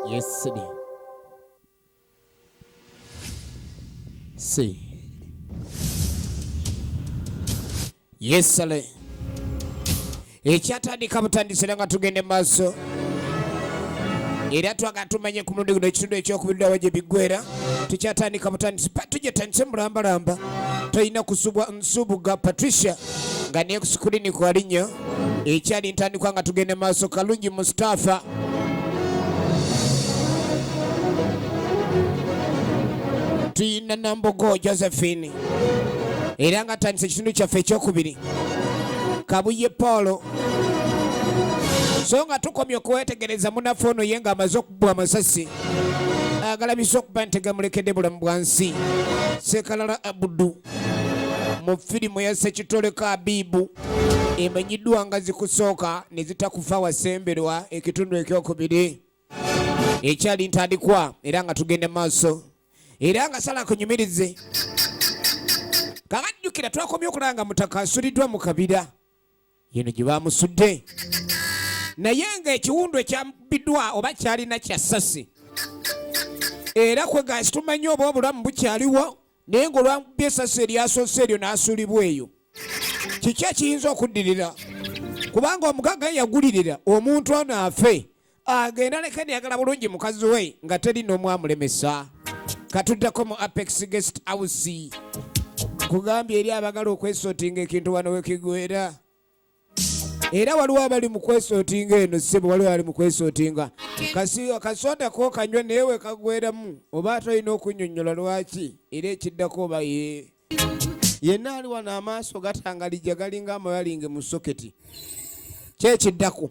Yes, Sidi. Si. Yes, Sale. Ekyatandika butandisira nga tugende maaso era twaga tumanye ku mulundi guno ekitundu ekyokubirirawo gye biggwera tukyatandika butandisi tujja tandise mulambalamba tolina kusubwa Nsubuga Patricia nga ne ku sikulini kwali nnyo ekyali ntandikwa nga tugenda maaso Kalungi Mustafa tuyina Nambogo Josephine era nga atandise ekitundu kyaffe ekyokubiri Kabuye Paul so nga tukomye okwetegereza munaffe ono ye nga amaze bwa amasasi agalabisa okuba nti gamulekedde bulamu bwa nsi sekalala abudu mu firimu ya sekitoleko abibu emanyiddwa nga zikusooka ne zitakufa wasemberwa ekitundu ekyokubiri ekyali ntandikwa era nga tugenda maaso era nga sala kunyumirize kabajjukira twakomye okulanga mutaka asuliddwa mu kabira yino gye baamusudde naye ng'ekiwundu ekyambiddwa oba kyalina kya ssasi era kwe gaasi tumanyi oba obulamu bukyaliwo naye ng'olwamubye essasi eryasoose eryo n'asuulibwa eyo kiki ekiyinza okuddirira kubanga omugagga yagulirira omuntu ono afe agenda leka neyagala bulungi mukazi we nga teri n'omu amulemesa katuddako mu apex guest house kugambye eri abagala okwesotinga ekintu wano wekigwera era waliwo abali mu kwesotinga eno sebo waliwo ali mu kwesotinga kasi akasonda ko kanywa naye wekagweramu oba ate olina okunyonyola lwaki era ekiddako oba ye yenna ali wano amaaso gatangalija galinga amayalinge mu soketi kyekiddako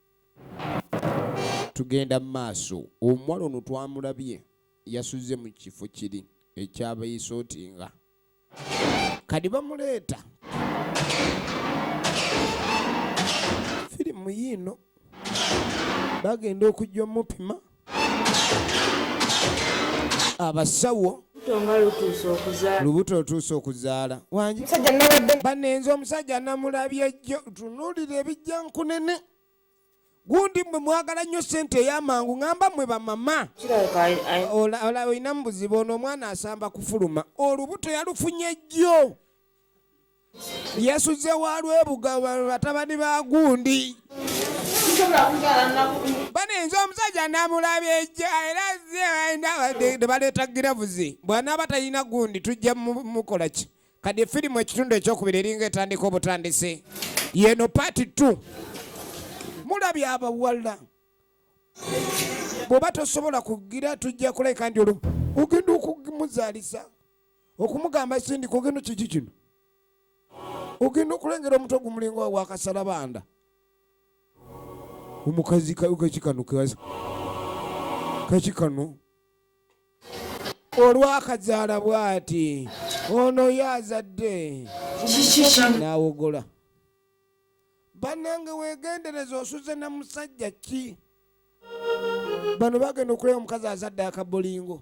tugenda mu maaso omuwala ono twamulabye yasuze mu kifo kiri ekyabaisootinga kadi bamuleeta firimu yiino bagenda okujja omupima abasawo lubuto otuuse okuzaala wangi banenze omusajja namulabye jjo tunuulira ebijja nkunene gundi mwe mwagala nnyo sente eyamangu ŋamba mwe bamama olina mubuzibu ono omwana asamba kufuluma olubuto yalufunye jjo yasuze wa lwebuga batabani ba gundi baninza omusajja namulabye ejja era nebaleeta giravuzi bwanaaba talina gundi tujja mukola ki kadi efirimu ekitundu ekyokubiri eringa etandika obutandisi yeno paati t mulabye abawala bwoba tosobola kugira tujja kuleka ndi olwo ogenda okumuzaalisa okumugamba sindika ogenda kiki kino ogenda okulengera omuto gumulinga wakasala banda omukazi kakikano kakikano olwakazaala bwati ono yo azadde nawogola banange wegendereza osuze na musajja ki bano bagenda okulaba omukazi azadde akabolingo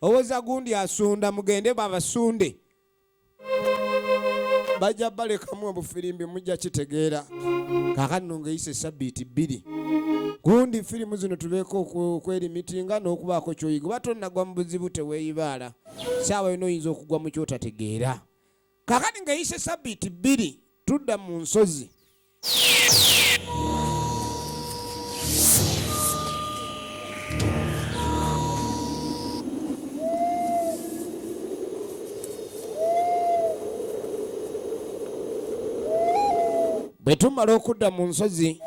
owoza gundi asunda mugende babasunde bajja balekamu obufirimbi mujja kitegeera kakanno ngaeyise sabbiiti bbiri gundi firimu zino tubeeko okwelimitinga n'okubaako kyoyiga oba tonnagwa mu buzibu teweeyibaala saawa yona oyinza okugwa mu kyotategeera Kakati nga yise sabiti bbiri tudda mu nsozi. Bwe tumala okudda mu nsozi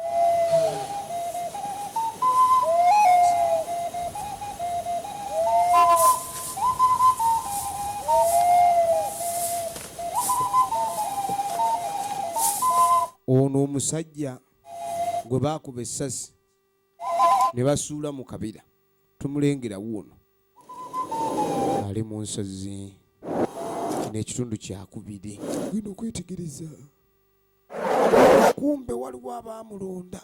ono omusajja gwe baakuba essasi ne basuula mu kabira tumulengera wuuno ali mu nsozi n'ekitundu kyakubiri genda okwetegereza kumbe waliwo abaamulonda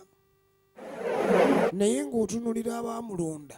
naye ng'otunulira abaamulonda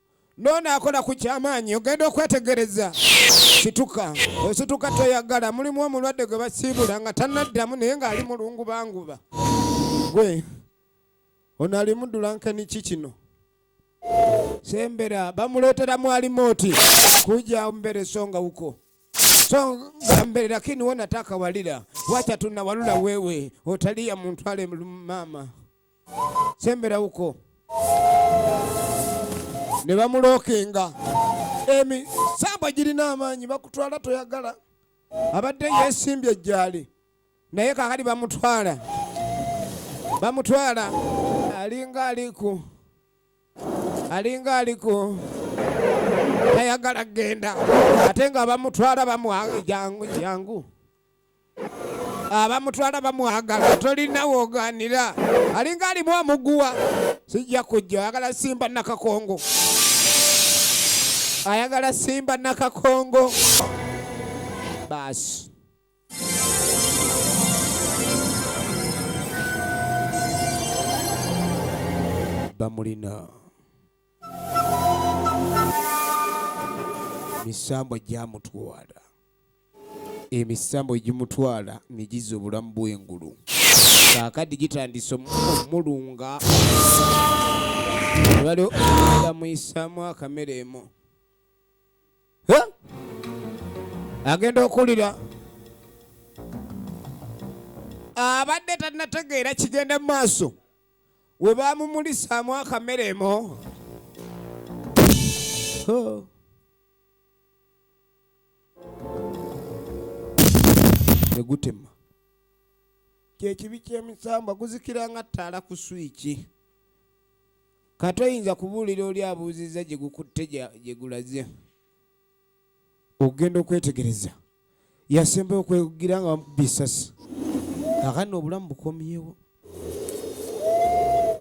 Nona akola ku kyamaanyi ogenda okwetegereza situka osituka toyagala mulimu omulwadde gwe basiibula nga tanaddamu naye ng'ali mulungu banguba gwe ono alimu dulankeni ki kino sembera bamuleetera mwali mooti kuja mbere songa huko songa mbere lakini wona takawalira wacha tunawalula wewe otalia muntu ale mama sembera uko ne bamulookinga emisambwa girina amaanyi bakutwala toyagala abadde yesimbye ejjaali naye kakati bamutwala bamutwala alinga aliku alinga aliku tayagala kugenda ate nga bamutwala bamwangu jangu jangu abamutwala bamwagala tolina woganira alinga alimu omuguwa sijja kujja ayagala simba nakakongo ayagala simba nakakongo baasi bamulina misambwa gyamutwala emisambo egimutwala ne gizza obulamu bw'engulu kaakati gitandise omulunga waliwo amuyisaamu akamere emu agenda okuwulira abadde tanategeera kigenda mu maaso we baamumulisaamu akamere emu ne gutema kyekibi kyemisambwa guzikira nga ttaala ku swiki kati oyinza kubuulira oli abuuzizza gye gukutte gye gulaze okugenda okwetegereza yasembayo okwegira nga bamukuba esasi akani obulamu bukomyewo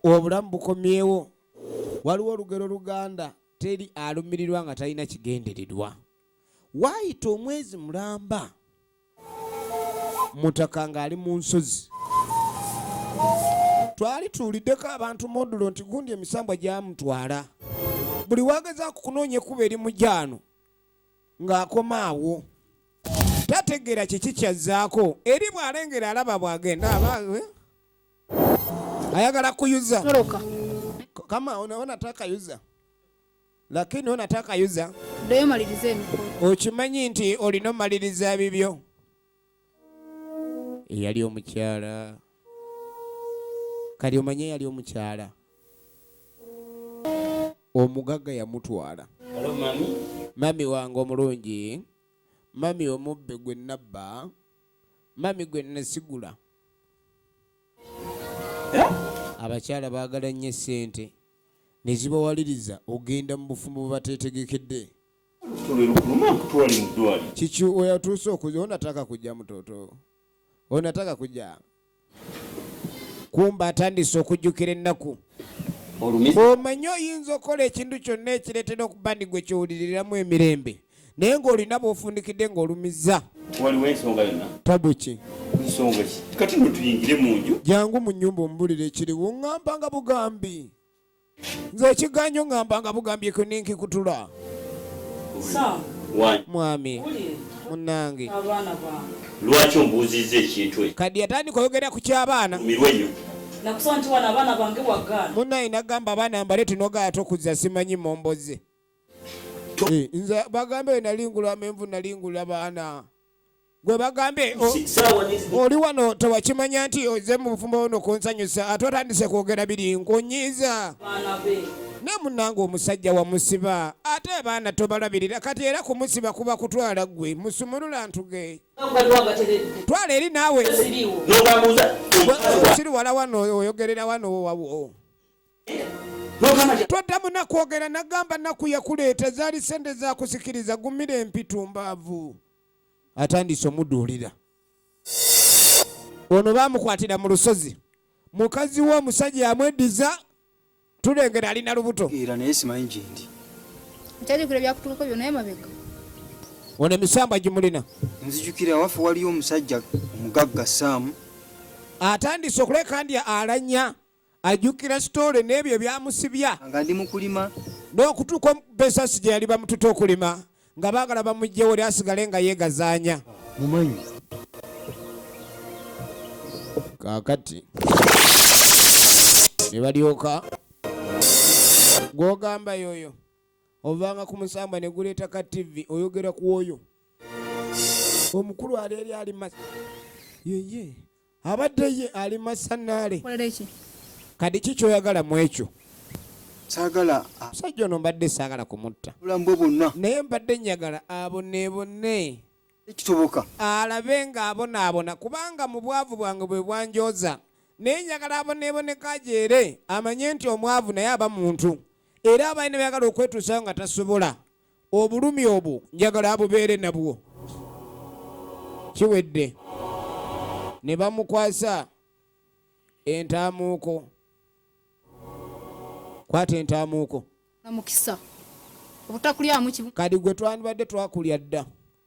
obulamu bukomyewo waliwo olugero luganda teri alumirirwa nga talina kigendererwa waayita omwezi mulamba mutaka ng'ali mu nsozi twali tuwuliddeko abantu modulo nti gundi emisambwa gyamutwala buli wagezaako okunoonya ekkuba eri mu gyano ng'akoma awo tategeera kiki kyazzaako eri bw'alengera alaba bw'agenda aba eh? ayagala kuyuza toroka kama unaona taka yuza lakini unataka yuza ndio malirize emikolo okimanyi nti olina omaliriza bibyo eyali omukyala kali omanye eyali omukyala omugaga yamutwala mami wange omulungi mami omubbe gwe nabba mami gwe nasigula abakyala baagala nnyo essente ne zibawaliriza okugenda mu bufumbo bwe bateetegekedde kiki oyatuuse okuja onataka kujja mutoto onataka kujja kumba atandise okujjukira ennaku omanyi oyinza okukola ekintu kyonna ekireetera okuba ndi gwe kyowuliriramu emirembe naye ng'olina bw'ofundikidde ng'olumizza waliwo ensonga yonna tabu ki nsonga ki kati no tuyingire mu nju jangu mu nnyumba omubulire ekiriwo ŋŋamba nga bugambi nze ekiganyo ŋŋamba nga bugambi ekyo nenkikutula mwami munange lwaki ombuuzizza ekintu e kadi yatandika oyogera ku ky'abaana mirwenyo nakusaba nti wano abaana bange wagaana munaye nagamba abaana mbale tinogaata okuzza simanyi momboze Eh, nze bagambe nali ngula menvu nali ngula baana gwe bagambe oli wano tewakimanya nti oze mu bufumbo ono kunsanyusa ate otandise kwogera biri nkunyiiza ne munange omusajja wamusiba ate abaana tobalabirira kati era kumusiba kuba kutwala gwe musumulula ntuge twala eri naawe siri wala wano oyogerera wano wawo toddamu nakwogera nagamba naku yakuleeta zaali sente zakusikiriza gumira empitumbaavu atandise omuduulira ono bamukwatira mu lusozi mukazi we omusajja yamweddiza tulengera alina lubuto era naye simanyi gyendi nkyajukira byakutukako byona emabega ono emisamba gimulina nzijukira waffe waliyo omusajja omugagga saamu atandise okuleka ndi alanya ajjukira sitoole n'ebyo ebyamusibya nga ndi mukulima n'okutuuka omubesasi gye yali bamututa okulima nga baagala bamugjewo ly asigale nga yeegazaanya mumanyi kaakati ne balyoka gw'ogamba yooyo ovanga ku musamba ne guleeta ka tivi oyogera ku oyo omukulu aleeri ali ma yeye abadde ye ali masanaale kadi ki kyoyagala mu ekyo sagala omusajja ono mbadde saagala kumutta obulamu bwe bwonna naye mbadde njagala aboneebone ekitoboka alabe ng'abonaabona kubanga mu bwavu bwange bwe bwanjooza naye njagala aboneeboneka ajeere amanye nti omwavu naye aba muntu era abalina byagala okwetuusayo nga tasobola obulumi obwo njagala abubeere nabwo kiwedde ne bamukwasa entaamuuko kwata entaamuuko kadi gwe twandibadde twakulya dda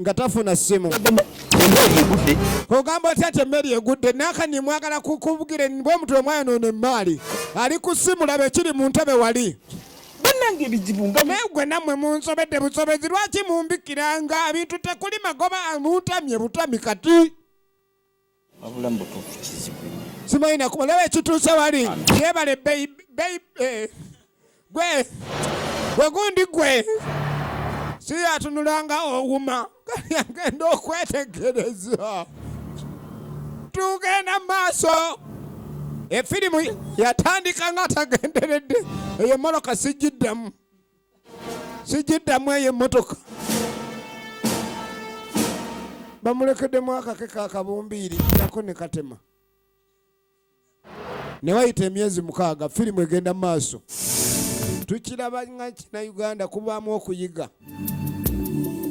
nga tafuna ssimu ogamba otya nti emmeri egudde nakani mwagala kukubukire bwe omuntu omwayonoona emmaali ali ku ssimu laba ekiri mu ntebe wali banange ebizibu nga naye gwe nammwe munsobedde busobezi lwaki mumbikiranga ebintu tekuli magoba muntamye butami kati simanyi nakuba laba ekituuse wali yebale eh, gwe gwe gundi gwe siyatunulanga owuma agenda okwetegereza tugenda maaso efirimu yatandika nga atagenderedde eyo moloka sijiddamu sijiddamu eyo emmotoka bamulekedemu akake ka kabumbiiri nako ne katema ne wayita emyezi mukaaga firimu egenda mu maaso tukiraba nga kina uganda kubaamu okuyiga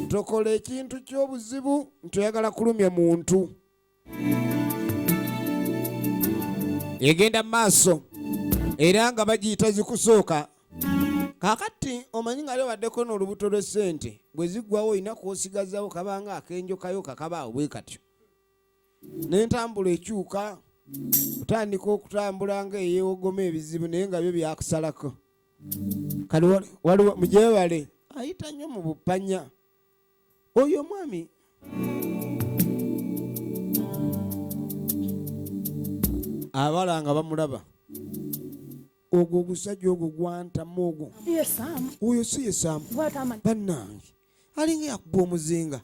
tokola ekintu ky'obuzibu nti oyagala kulumya muntu egenda maaso era nga bagiyita zikusooka kakati omanyi nga lebaddeko n'olubuto lw'essente bwe ziggwawo olina kwosigazawo kabanga akenjokayo kakabaawo bwe katyo n'entambula ekyuka kutandika okutambula nga eyewogoma ebizibu naye nga byo byakusalako kale waliwo mujewale ayita nnyo mu bupanya oyo omwami abala nga bamulaba ogwo ogusajja ogwo gwantamu ogwo oyo si ye saamu bannange alinga yakuba omuzinga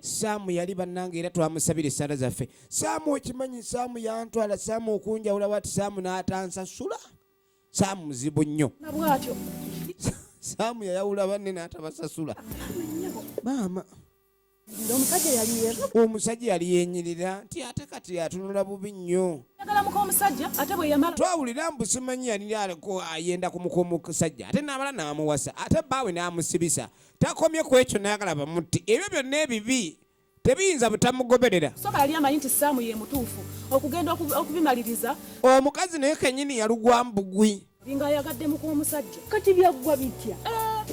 saamu yali bannange era twamusabira esaala zaffe saamu okimanyi saamu yantwala saamu okunjawula wati saamu n'atansasula saamu muzibu nnyo saamu yayawula banne n'atabasasula maama omusajja yali yenyirira nti ate kati atunula bubi nnyo twawulira mbu simanyi yali aliko ayenda ku muka omusajja ate n'abala n'amuwasa ate baawe n'amusibisa takomye ku ekyo n'ayagala bamutti ebyo byonna ebibi tebiyinza butamugoberera soka yali amanyi nti saamu ye mutuufu okugenda okubimaliriza omukazi naye kenyini yalugwa mbugwi nga ayagadde mukwomusajja kati byaggwa bitya ah,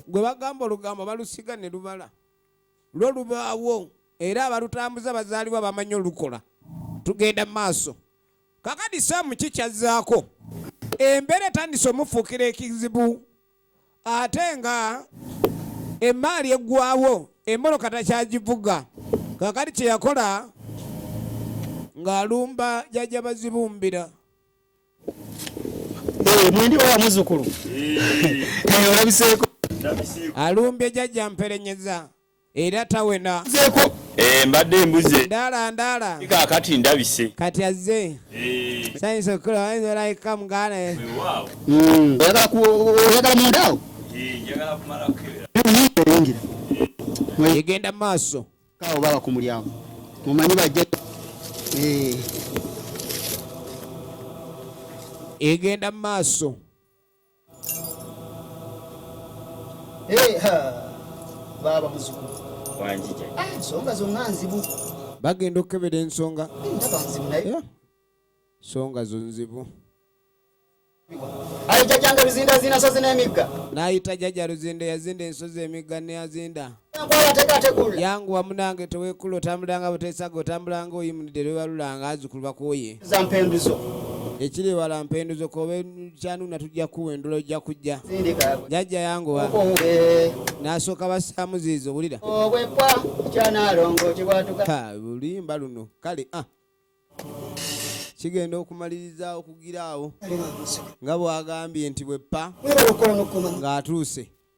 gwe bagamba olugambo balusiga ne lubala lwo lubaawo era abalutambuza bazaalibwa bamanyi olukola tugenda mu maaso kakadi saamu kikyazzaako embeera etandise omufuukira ekizibu ate nga emmaali eggwawo emmotoka takyagivuga kakati kye yakola ng'alumba jajja bazibumbira eh, mwendi owa muzukulu eh. eh, olabiseeko alumbye jajja mperenyeza era tawena nzeko eh, mbadde mbuze ndala ndala kakati ndabise kati azze eh. sayinza okukola wayinza olayika muganda hmm, oyagala mundaawo egenda maaso kawo baba ku mulyango mumanyi bajja eh. egenda maaso Eh, baaba muzukulu wanjija ah, ensonga zonna nzibu bagenda okukebera ensonga ensonga zo nzibu ayita janga luzinda zina nsozi n'emigga n'ayita jajja luzinda yazinda ensozi emigga neyazinda yanguwa munange tewekula otambulanga butesaga otambulanga oyimunidde lwebalulanga azukulu bakuwoye ekiri ewala mpenduzo kobe kyanuna tujja kuwa endula ojja kujja jajja yanguwa nasooka bassaamu ziizo wulira lulimba luno kale ah. kigenda okumaliriza okugira awo nga bwagambye nti bweppa ng'atuuse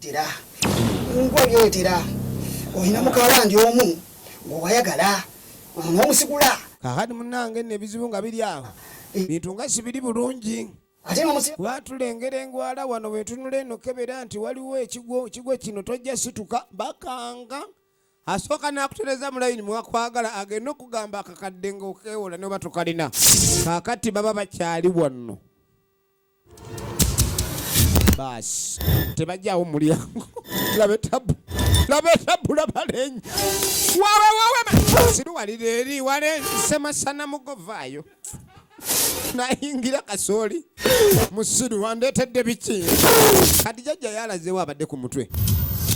tera ngwe byo tera oyina mukawala ndi omu gwe wayagala ono omusigula kakati munange nno ebizibu nga biri awo eh. bintu nga sibiri bulungi watulengera engwala wano wetunula eno kebera nti waliwo ekigwo kigwo kino tojja situka bakanga asooka nakutereza mulayini mwakwagala agenda okugamba akakadde ngaokewola noba tokalina kakati baba bakyali wanno baasi tebajjawo mulyango labe tabu labe tabu labalenyi wawe wawe siruwalira eri wale semasana mugovaayo nayingira kasooli musiru wandeetedde biki kati jajja yalazewo abadde ku mutwe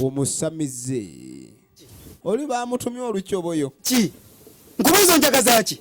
omusamize oli bamutumye olukyoboyo ki nkubuuza njagazaki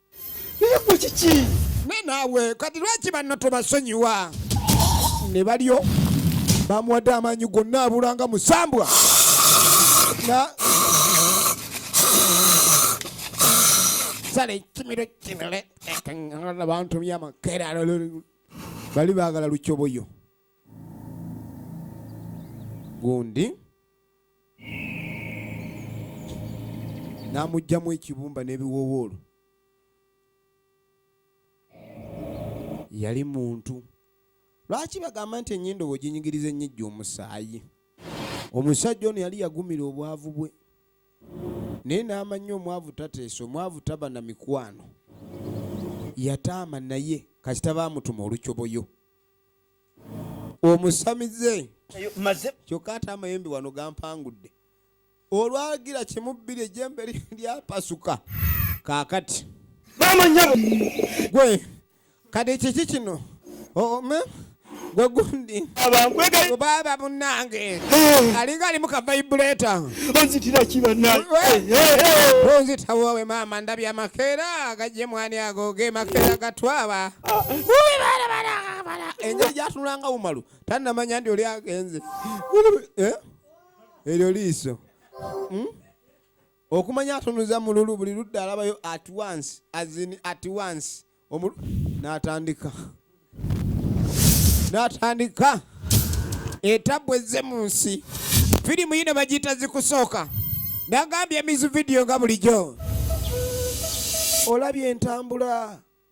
naye gwe kiki ne naawe kati lwaki banno tobasonyiwa ne balyo bamuwadde amaanyi gonna abulanga musambwa sala ekimiro kinole abantu byamakera bali baagala lukyoboyo gundi n'amuggyamu ekibumba n'ebiwoowoolo yali muntu lwaki bagamba nti ennyindo bweginyigiriza ennyijja omusaayi omusajja ono yali yagumira obwavu bwe naye n'amanya omwavu tateesa omwavu taba na mikwano yataama naye kasita baamutuma olukyoboyo omusamize kyokka ate amayembe wano gampangudde olwagira kimu bbiri ejembe lyapasuka kakati gwe kati kiki kino ome gwe gundi baba munange alinga alimu kavaibuleta onzitawowe maama ndabye amakeera gajje mwani ago ge makeera gatwaba ah. bala engeri gyatunulanga umalu tanamanya nti oli agenze eh? eryo liiso hmm? okumanya atunuza mululu buli ludda alabayo at once azin at once omulu natandika natandika etabwe ze mu nsi firimu yino bagiyita zikusooka nagambye emizu vidiyo nga bulijjo olabye entambula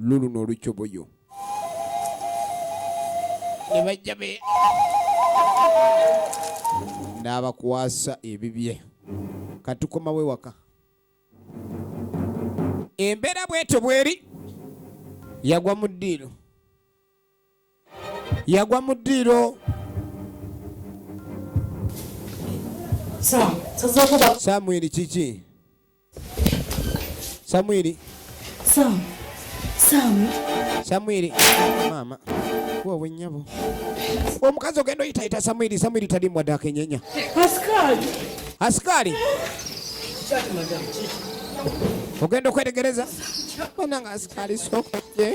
luluno olucoboyo ne bajja be n'abakwasa ebibye katukomawo ewaka embeera bwetyo bweri yagwa mu ddiiro yagwa mu ddiiro samwiri kiki samwiri samwiri maama wowe nyabo omukazi ogenda oyitayita samwiri samwiri talimwa dakenyenya asikali asikali ogenda okwetegereza ona nga asikali sokoje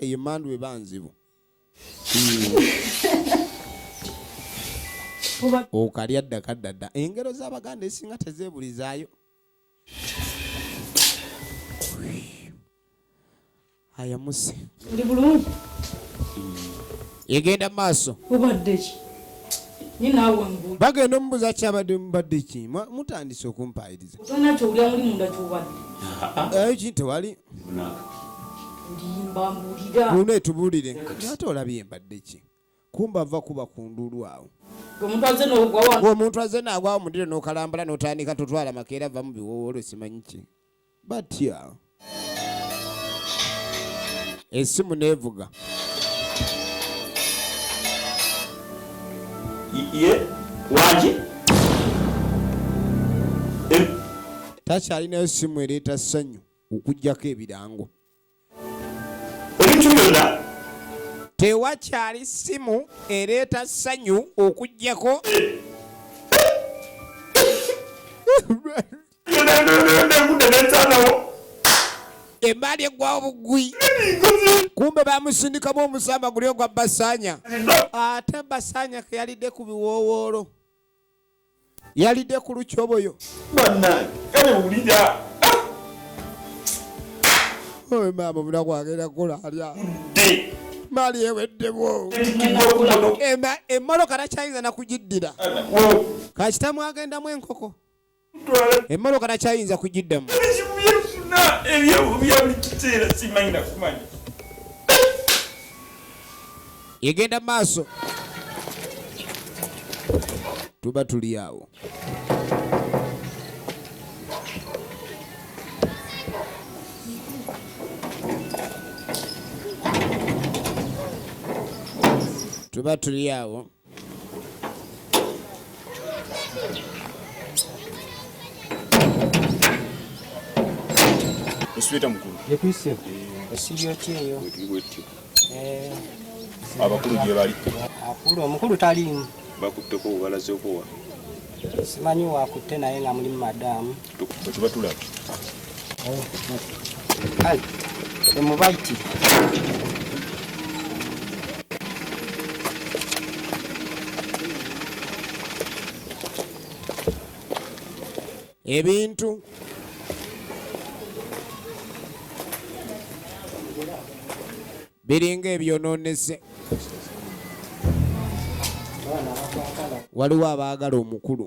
eyo mandu eba nzibu okalya dda kadda dda engero z'abaganda esinga tezeebulizaayo ayamuse oli bulungi egenda maaso obaddeki bagenda omubuza kyabadde mubadde ki mutandise okumpaayiriza ayo ki tewali luno etubuulire ate olabye mbadde ki kumba ava kuba ku ndulu awo omuntu azze naagwawo mudiro n'okalambala n'otandika totwala makeera vamu biwowolo simanyi ki batya esimu neevuga waki takyalinayo simu ereeta ssanyu okujjako ebirango ebintu byonna tewakyali simu ereeta ssanyu okujjako embaali egwawo bugwi kumbe bamusindikamu omusamba guli ogwa basanya ate basanya keyalidde ku biwoowoolo yalidde ku lukyoboyo bannange kale wulira ah! oyo maama omuna kwagenda kukola alya maali eweddemu emmotoka takyayinza nakugiddira kasitamu agendamu enkoko emmoloka nakyayinza kugiddamu ebizibu byefuna ebya buli kiseera simanyi nakumanya egenda maaso tuba tuli awo tuba tuli awo Osweta mukulu. Yepise. Esibyo kyeyo. Eh. Abakulu gye bali. Akulu omukulu taliimu. Bakutteko obalaze okuwa. Simanyi wakutte naye nga muli madamu. ebintu biringa ebyononese waliwo abaagala omukulu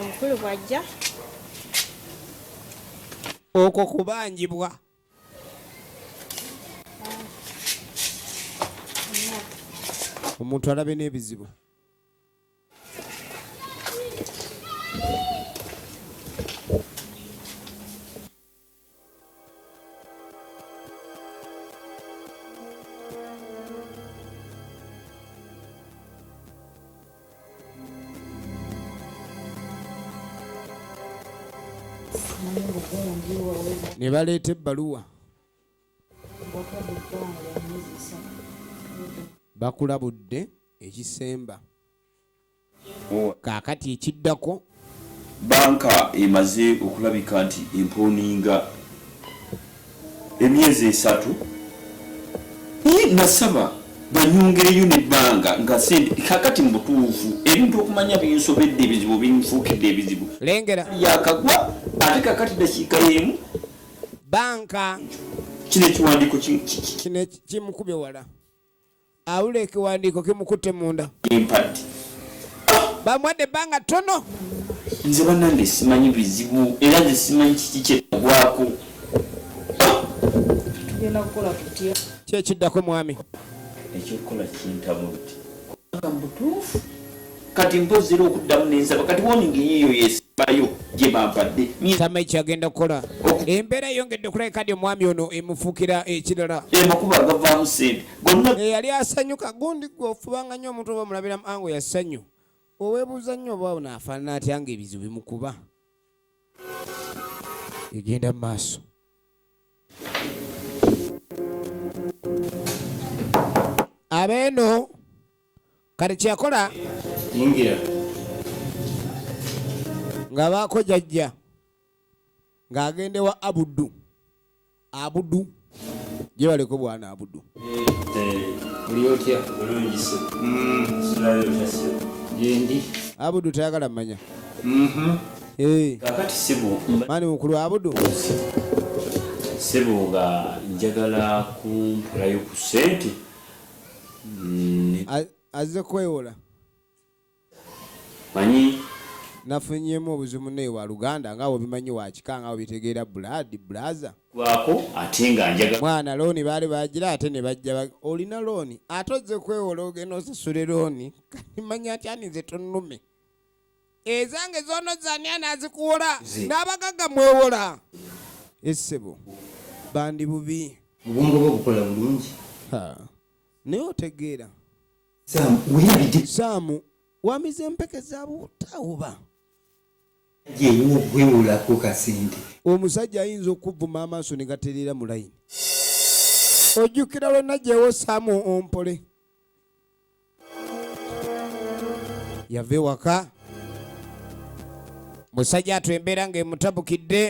omukulu bw'ajja okwo kubanjibwa omuntu alabe n'ebizibu ne baleeta ebbaluwa bakulabudde ekisemba kaakati ekiddako banka emaze okulabika nti empooninga emyezi esatu naye nasaba banyongereyo nebbanga nga sente kakati mubutuufu ebintu okumanya binsobedde ebizibu binfuukidde ebizibu lengera yakagwa ate kakati dakiika yemu banka kino ekiwandiiko kino kimukube wala awulira ekiwandiiko kimukutte munda bamuwadde ebbanga ttono nze banange simanyi bizibu era nze simanyi kiki kyetagwako kyekiddako mwami ekyokukola kintamu nti mutuufu Kati mpozi era okuddamu nensaba kati woningi yiyo yesimbayo gyebampadde tama ekyagenda kukola embeera eyongedde okulabika di omwami ono emufuukira ekirala emakuba eh, agavaamu sente gonna eyali asanyuka gundi gwe ofubanga nnyo omuntu oba omulabiramu ango yasanyu owebuuza nnyo oba ono afaanana atya nga ebizibu bimukuba egenda mu maaso abeeno kati kyeyakola nga baako jajja ng'agenda ewa abudu abudu gye baleko bwana abudu abudu tayagala manya mm-hmm. eh. mani mukulu abudu sebo nga njagala kumpulayo ku sente azze kwewola manyi nafunyemu obuzibu naye wa luganda nga webimanyi wakika nga webitegeera blood blaza gwako ate nga njaga mwana looni baali bagira ate ne bajja olina looni ate ozze kwewola ogenda osasule looni kati manya atya ninze tonnume ezange zono zani anazikuwola n'abagagga mwewola essebo bandi bubi obwongo bwo bukola bulungi naye otegeera saamu wamize empeke zabutawuba gyewokwewolako kasente omusajja ayinza okuvuma amaaso ne gatereera mu layini ojjukira lwenna gyewosaamu ompole yava ewaka musajja atu embeera ng'emutabukidde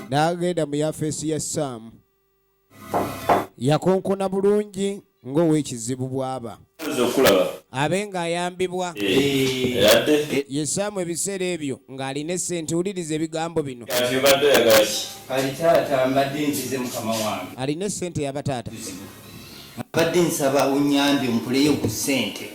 n'agenda mu yafeesi ya saamu yakonkona bulungi ng'ow'ekizibu bw'aba abe ng'ayambibwa eh, yesaamu ebiseera ebyo ng'alina essente wuliriza ebigambo bino alina essente yaba taata mbadde nsaba unyambye ompuleyo ku ssente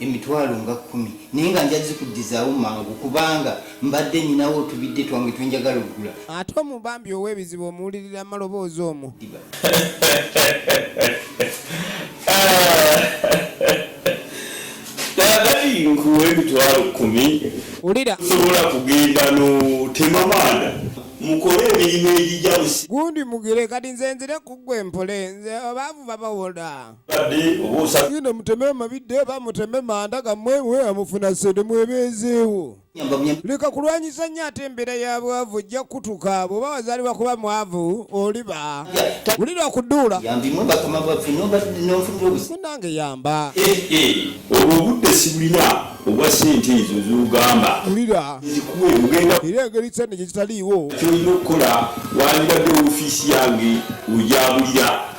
emitwalo nga kkumi naye nga nja zikuddizaawo mangu kubanga mbadde nninawo otubidde twange twe njagala okugula. Ate omu bambi ow'ebizibu omuwulirira maloboozi omu. Kaakati nkuwa emitwalo kkumi osobola kugenda n'otema maanda mukole emirimu egijabusi. Gundi mugire kati nze nzire ku ggwe mpole nze abaavu babawola. Yino muteme mabidde ba muteme manda gamwe mwe amufuna sente mwebezeewo leka kulwanyisa nnyo ate embeera ya bwavu ojja kutuka bw'oba wazaalibwa kuba mwavu oliba wulira okuduula munange yamba eh, eh, olwo obudde sibulina obwa sente ezo zogamba wulira era engeri sente gye kitaliiwo kyolina okukola wandibadde ofiisi yange ojabulira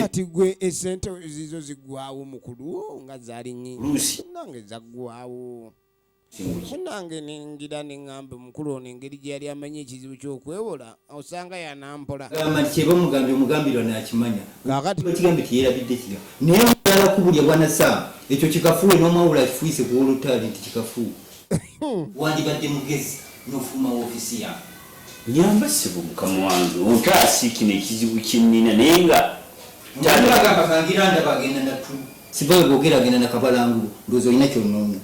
kati gwe esente zizo zigwawo mukulu nga zali nyingi nange zagwawo nange ningira neŋamba mukulu ono engeri gye yali amanyi ekizibu kyokwewola osanga yanampola kubulya bwana sam ekyo kikafuwe nomwawula akifuise kuwolotali nti kikafuwe wandibadde mugezi nofuma wofisi yawe Nyamba ssebo mukama wange ontaase kino ekizibu kyennina naye nga taata. Sibbawe bwogera agenda na kabalangulu ndowooza olina kyonoonya.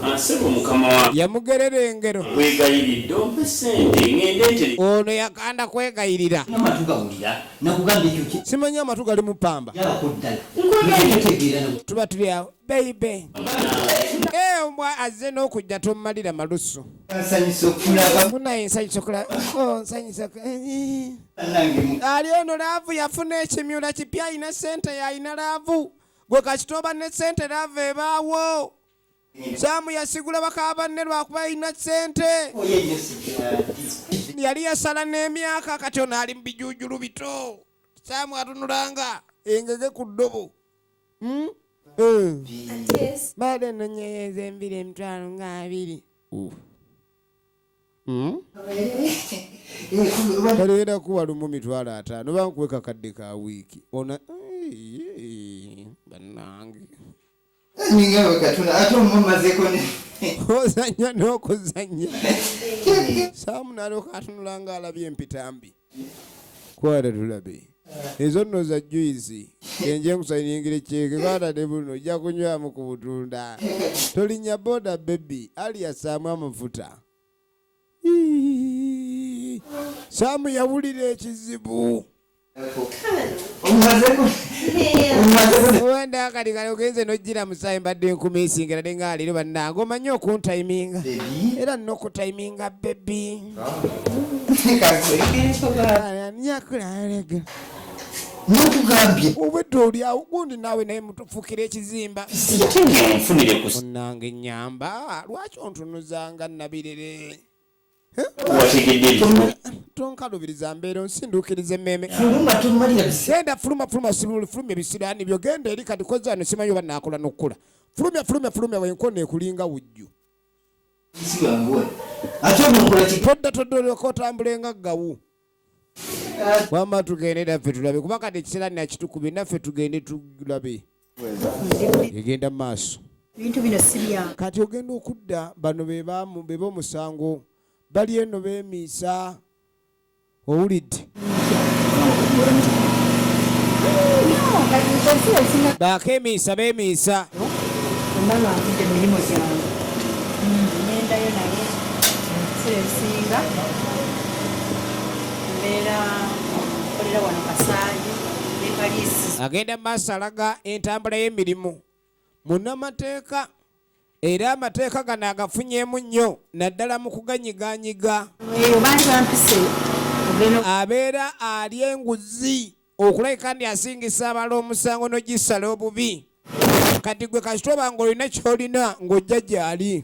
Ah, ssebo mukama wange. Yamugerera engero. Nkwegayiridde ompe ssente ngende ntere. Ono yakanda kwegayirira. N'amatu gawulira nakugambye ekyo ki. Simanyi amatu galimu ppamba. Yabako ddala. Nkwegayiridde. Tuba tuli awo baby. Ombwa azze n'okujja tommalira malusu. munaye nsanyusa okulaba oh, nsanyusa ali ono laavu yafuna ekimyula kipya alina sente yalina laavu gwe kakitoba ne sente laavu ebaawo saamu yasigula bakaba banne lwakuba alina sente oh, yali yasala n'emyaka kati ono ali mu bijujulu bito saamu atunulanga engege ku ddobo hmm? baada nonyeyeza embiri emitwalo nga abiri hmm? kaleera kuwa lumu mitwalo ataano bankuwe kakadde ka wiiki ona banange ozanya n'okuzanya saamu nalyoka atunula nga alabye empitambi kwata tulabe ezo nno za juizi enje nkusayingira ekyeke kwata ne buno ojja kunywamu ku butunda tolinnya boda bebi ali yasaamu amafuta saamu yawulira ekizibu wenda kati kale ogenze nojjira musaayi mbadde enkumiisingera ne nga leero bannange omanyi okuntayiminga era nokutayiminga bebi nakugambye obwedda olyawo gundi naawe naye mutufukira ekizimba munange nyamba lwaki ontunuzanga nabirere tonkalubiriza mbeera onsinduukiriza emmeeme genda fuluma fuluma sibuli fuluma ebisiraani byo genda eri kati kozano simanyi oba naakola n'okukula fulumya fulumya fulumya wenkona ekulinga wujju todda todda olyoka otambule nga gawu wama tugende naffe tulabe kuba kati ekiseera nakitukube naffe tugende tulabe egenda mu maaso kati ogenda okudda bano beba omusango bali eno bemiisa owulidde bakemiisa bemiisa esinga mbeera okolera wano kasaali agenda mu maaso alaga entambula y'emirimu Munnamateeka era amateeka gano agafunyeemu nnyo naddala mu kuganyiganyiga abeera ali enguzi okulabika ndi asingisa abala omusango n'ogisala obubi kati gwe kasitoba ng'olina ky'olina ng'ojja gyali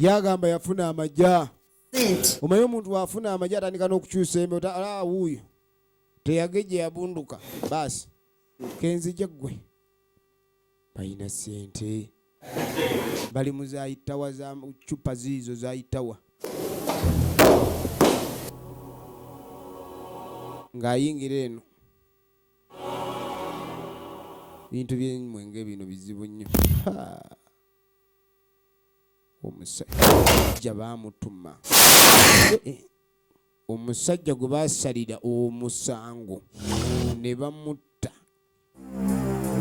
yagamba yafuna amagya omanyi omuntu wafuna amagye atandika n'okukyusa embe ah, wuuyo teyageje yabunduka baasi kenzije ggwe balina sente bali mu zayitawa za cupa ziizo zayitawa ng'ayingira eno bintu byenyimwe nga ebino bizibu nnyo omusajja baamutuma eh, eh. omusajja gwe baasalira omusango ne bamutta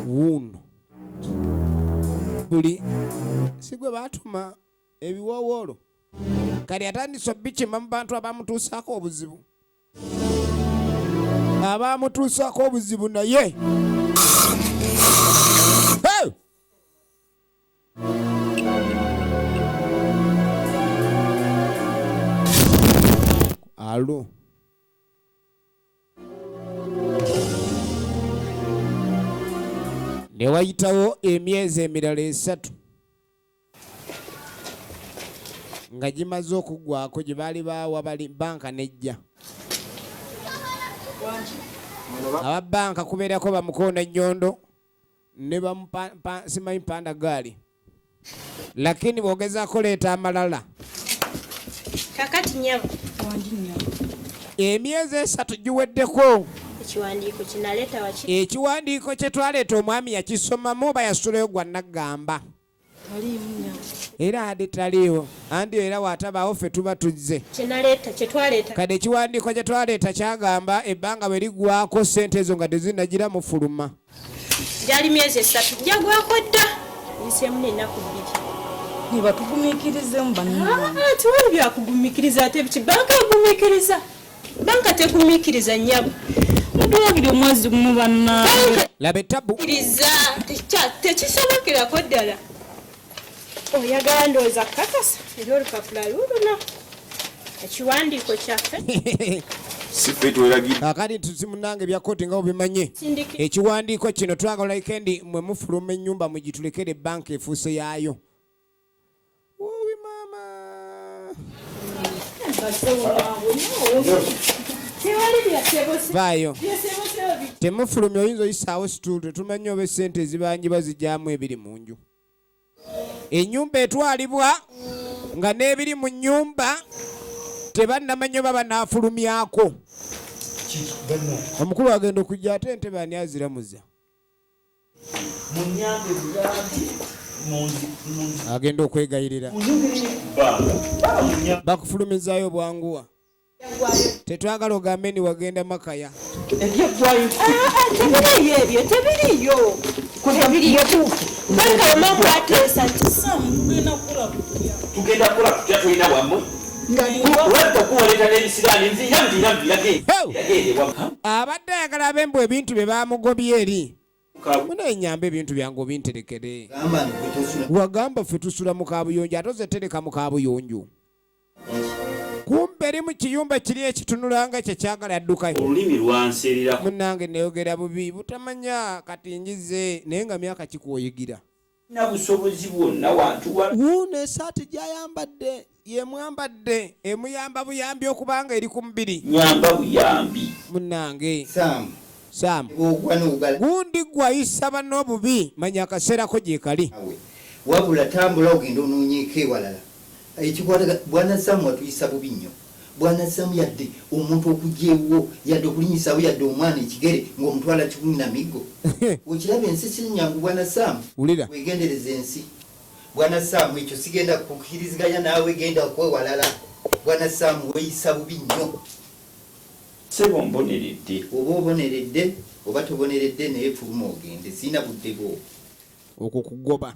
wuuno buli si gwe baatuma ebiwoowoolo kati atandise obikima mu bantu abamutuusaako obuzibu abaamutuusako obuzibu naye alo ne wayitawo emyezi emirala esatu nga gimaze okuggwako gye baali baawa banka nejja aba banka kubeerako bamukoona ennyondo ne bamusimanyi panda gaali lakini bwogezako leeta amalala kakati nyabo emyezi esatu giweddeko ekiwandiiko kye twaleeta omwami yakisomamu oba yasulayo gwa naggamba era andi taliiwo andi era watabaawo ffe tuba tuzze kati ekiwandiiko kye twaleeta kyagamba ebbanga bwe liggwako ssente ezo nga tezinagira mufuluma gyali myezi esatu jagwako dda nseemu nenaku bbiri nebatugumikirizemu bannaa ah, ah, tewali byakugumikiriza ate biki banka egumikiriza Banka tekumikiriza nyabo. Mudula buli omwezi gumu banna. Labe tabu. Kiriza techa tekisobokera ko ddala. Oyagala ndoza kakasa ero lukapula luluna. Ekiwandiiko kyaffe. Sife twelagidde. Kakati tuzimunange bya koti nga obimanye. Ekiwandiiko kino twagala ikendi mwe mufuluma ennyumba mugitulekere banka efuuse yaayo. Uwi mama. vaayo temufulumya oyinza oyisaawo situulu tetumanyi oba esente ezibanjibwa zijyamu ebiri mu nju enyumba etwalibwa nga n'ebiri mu nyumba tebannamanya oba banaafulumyako omukulu agenda okujja ate ntebe ani aziramuza munyambe buyambi agenda okwegayirira bakufulumizaayo bwanguwa tetwagala ogambe ni wagenda makaya tugenda kula tutya tulina bwamu abadde ayagala abe mbu ebintu bye bamugobye eri muna enyamba ebintu byange obinterekere wagamba ffe tusula mu kabuyonjo ate ozetereka mu kabuyonjo kumbe eri mu kiyumba kiri ekitunula nga kye kyagala addukayo olulimi lwanseererako munange neyogera bubi butamanya kati njize naye nga myaka kikuoyigira Talina busobozi bwonna wantu wa. Wuuno esaati gy'ayambadde y'emwambadde emuyamba buyambi okuba nga eri ku mubiri. Nnyamba buyambi. Munnange. Sam. Sam. Ogwa n'ogala. Gundi ggwe ayisa banno obubi manya akaseera ko gyekali. Wabula tambula ogende onoonyeeko ewalala. Ekikwata bwana Sam watuyisa bubi nnyo. bwanazzaamu yadde omuntu okujja ewuwo yadde okulinyisaawo yadde omwana ekigere nga omutwala kikumi na miggo? Okiraba ensi sinyangu bwana Sam. Wegendereze ensi bwana Sam ekyo sigenda kukiriziganya naawe genda okuwe walala bwana Sam weyisa bubi nnyo. Sebo mboneredde. Oba oboneredde oba toboneredde naye fuluma ogende sirina budde bwo. Okwo kugoba.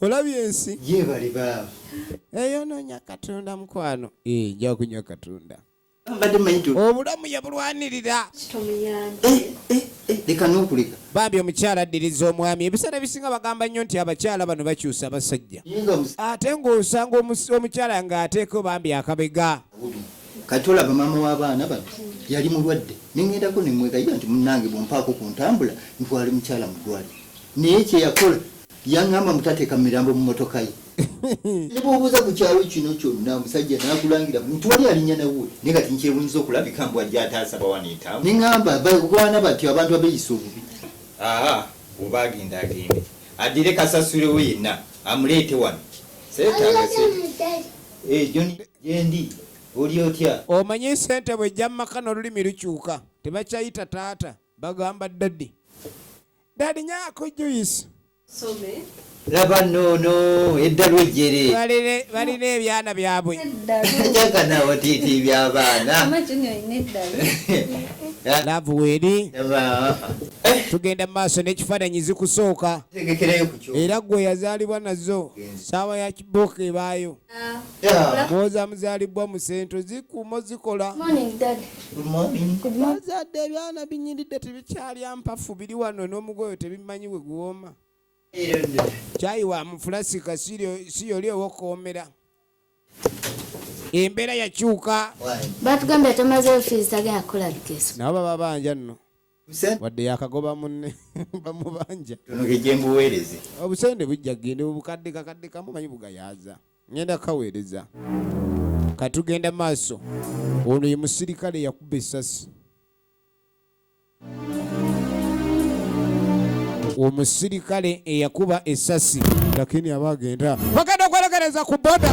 olabye ensi yebale baaba eyo nonya katonda mukwano eh, nja kunywa katonda obulamu yabulwanirira eh, eh, leka nokuleka bambi omukyala addiriza omwami ebiseera ebisinga bagamba nnyo nti abakyala bano bakyusa abasajja ate ng'osanga omukyala ng'ateeko bambi akabega kati olaba maama w'abaana bano yali mulwadde neŋendako nemwegayira nti munange bwompaako ku ntambula ntwale mukyala mu ddwaliro naye kyeyakola Yangamba mbu tateeka mirambo mu motoka ye. Ne bwobuuza ku kyalo kino kyonna omusajja nakulangira mbu tewali alinya nawe naye kati nkyewunyiza okulabika mbu ajja ataasa bawano etawo. Ne ngamba bagwana batyo abantu abeyisa obubi. Haa oba agenda agende addire kasasule we yenna amuleete wano seetaaga sente. Eh John gyendi oli otya? Omanyi sente bwejja mu maka n'olulimi lukyuka tebakyayita taata bagamba daddy. dadi nyako juice some laba nono eddalu ejjere balina ebyana byabwe jaga nawo tiiti byabaana laavu weeri eh. tugenda mu maaso n'ekifaananyi zikusooka era gwe yazaalibwa nazo saawa ya kiboka ebaayo mwoza muzalibbwa mu sente zikuumo zikola bazadde ebyana binyiridde tebikyalya mpafu biri wano n'omugoyo tebimanyi we guwooma kyayi wa mufulasika si yoli owokuwoomera embeera yakyuka batugambye tomaze ofiisi tagenda kukola bikeso nabo baba banja nno wadde yakagoba munne bamubanja mbuweereze obusente bujja kugenda obukadde kakadde kamu manyi bugayaaza ngenda kukaweereza katugenda maaso ono ye musirikale yakuba esasi omusirikale eyakuba esasi lakini aba agenda bagenda okwelegereza ku boda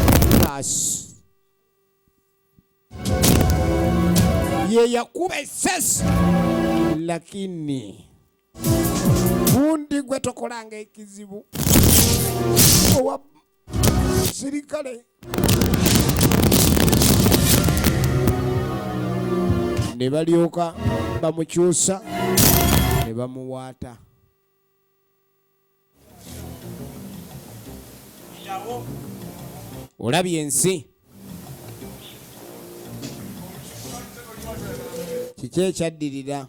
ye yakuba esasi lakini gundi gwe tokolanga ekizibu owa sirikale ne balyoka bamukyusa ne bamuwaata olabye ensi kiki ekyaddirira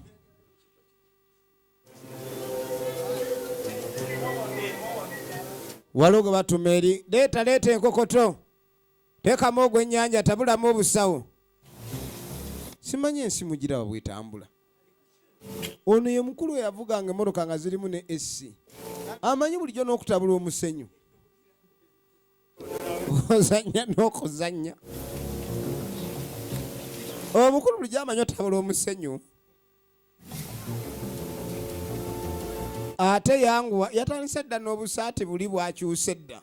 waliwo gwe batuma eri leeta leeta enkokoto teekamu ogw'ennyanja tabulamu obusawo simanyi ensi mugira wabwetambula ono ye mukulu eyavuganga emotoka nga zirimu ne esi amanyi bulijjo n'okutabula omusenyu ozanya n'okuzanya omukulu bulijjo amanyi otabula omusenyu ate yanguwa yatandise dda n'obusaati buli bwakyuse dda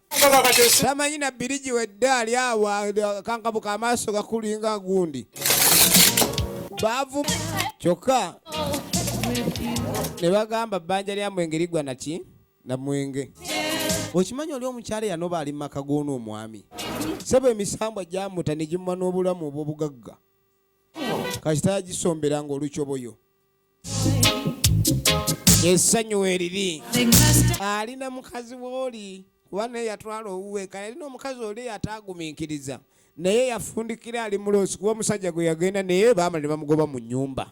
tamanyi na birigi wedde ali awo kankabuka amaaso gakulinga gundi baavu kyokka ne bagamba bbanja lya mwenge ligwa naki na mwenge okimanyi oli omukyala yanoba ali mumaka g'ono omwami sebo emisambwa gyamuta ne gimuwa n'obulamu obw'obugagga kasita yagisombera nga olukyoboyo essanyu weriri alina mukazi wooli kuba naye yatwala owuwe kale alina omukazi oli yataagumiikiriza naye yafundikira ali muloosi kuba omusajja gwe yagenda naye baamala ne bamugoba mu nnyumba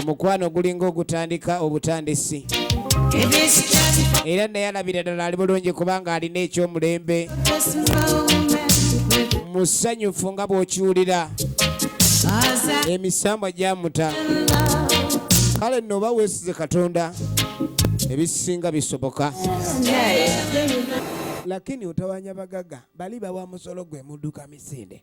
omukwano gulinga ogutandika obutandisi era naye alabira ddala ali bulungi kubanga alina ekyomulembe musanyufu nga bw'okiwulira emisambwa gyamuta kale nno oba weesize katonda ebisinga bisoboka lakini utawanya bagaga bali bawa musolo gwe muduka misinde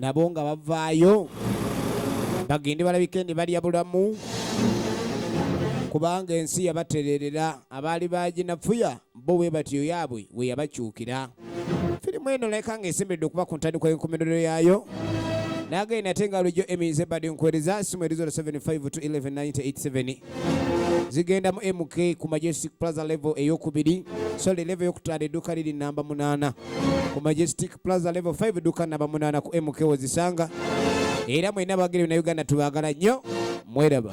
nabo nga bavaayo bagende balabike ne balya bulamu kubanga ensi yabatererera abaali baginafuya bo we batyo yaabwe we yabakyukira firimu eno leka nga esimbidde okuba ku ntandikwa y'enkomerero yaayo nagenda ate nga lujo emize badi nkuwereza simu erizo 75 to 11 987 zigenda mu mk ku majestic plaza level eyokubiri sorry level eyokutaano edduuka liri namba munaana ku majestic plaza level 5 edduuka namba munaana ku mk wezisanga era mwena abagere na uganda tubagala nnyo mweraba